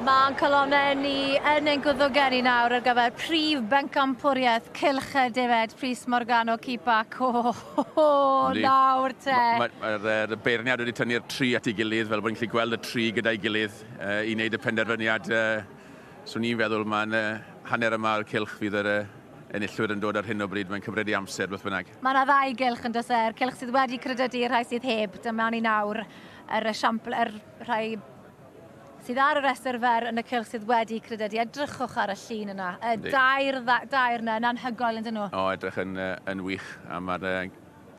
Mae ein calonnau ni yn ein gwddwgen ni nawr ar gyfer prif bencampwriaeth Cylch y Defaid, Prys Morgannwg Cipac. O! Yndi. Nawr te! Ma- ma- ma'r yy y beirniad wedi tynnu'r tri at ei gilydd, fel bo' ni'n gallu gweld y tri gyda'i gilydd yy i neud y penderfyniad yy so ni'n feddwl ma'n yy hanner y ma o'r cylch fydd yr yy enillwyr yn dod ar hyn o bryd, mae'n cyfredi amser beth bynnag. Ma' 'na ddau gylch yndos e? Yr cylch sydd wedi crydydu a'r rhai sydd heb. Dyma ni nawr yr esiampl yr rhai sydd ar y rhestr fer yn y cylch sydd wedi crededu. Edrychwch ar y llun yna. Y dair, dair yna yn anhygoel yn dyn nhw. O, edrych yn, yn wych. A mae'r uh,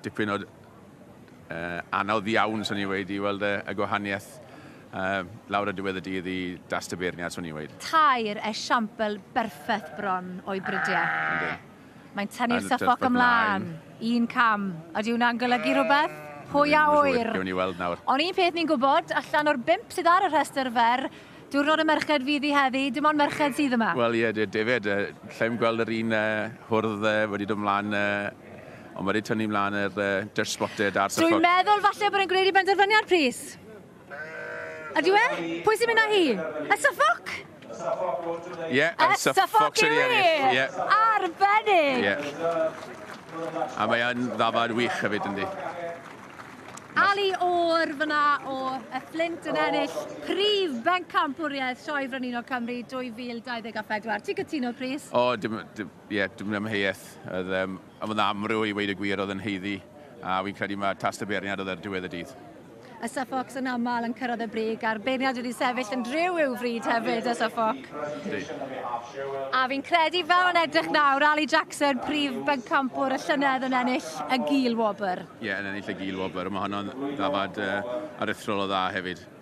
dipyn o uh, anodd iawn, swn i'n wedi, i weld y, y gwahaniaeth uh, lawr y diwedd y dydd i das tybeirniad, swn i'n wedi. Tair esiampl berffaith bron o'i bridiau. Ynddi. Mae'n tynnu'r suffolk ymlaen. Un cam. Ydy hwnna'n golygu rhywbeth? Pwy a ŵyr? Gewn ni weld nawr. Ond un peth ni'n gwybod, allan o'r bump sydd ar y rhestr fer, diwrnod y merched fydd hi heddi, dim ond merched sydd yma. Wel ie, defaid. Allai'm gweld yr un hwrdd wedi dod mlaen, ond mae wedi tynnu mlaen yr Dutch Spotted a'r Suffolk. Dwi'n meddwl falle bod e'n gwneud ei benderfyniad, plis. Ydyw e? Pwy sy'n mynd â hi? Y Suffolk? Ie, yeah, yn Suffolk sy'n ei ennill. Yeah. Arbennig! Yeah. A mae yn ddafad wych hefyd yndi. Ali O'r fyna o y Flint yn ennill prif bencampwriaeth Sioe Frenhinol Cymru 2024. Ti'n cytuno, Chris? O, dim, dim, Ie, dwi'm yn amheuaeth. Oedd um, oedd yn amryw i weid y gwir, oedd yn heiddi, a fi'n credu mae tas dy beirniad oedd ar diwedd y dydd. Y Suffolks yn aml yn cyrraedd y brig, a'r beirniad wedi sefyll yn driw i'w fryd hefyd, y Suffolk. A fi'n credu fel yn edrych nawr, Ali Jackson, prif bencampwr y llynedd yn ennill y Gil Wobr. Ie, yn ennill y Gil Wobr. Mae honno'n ddafad uh, aruthrol o dda hefyd.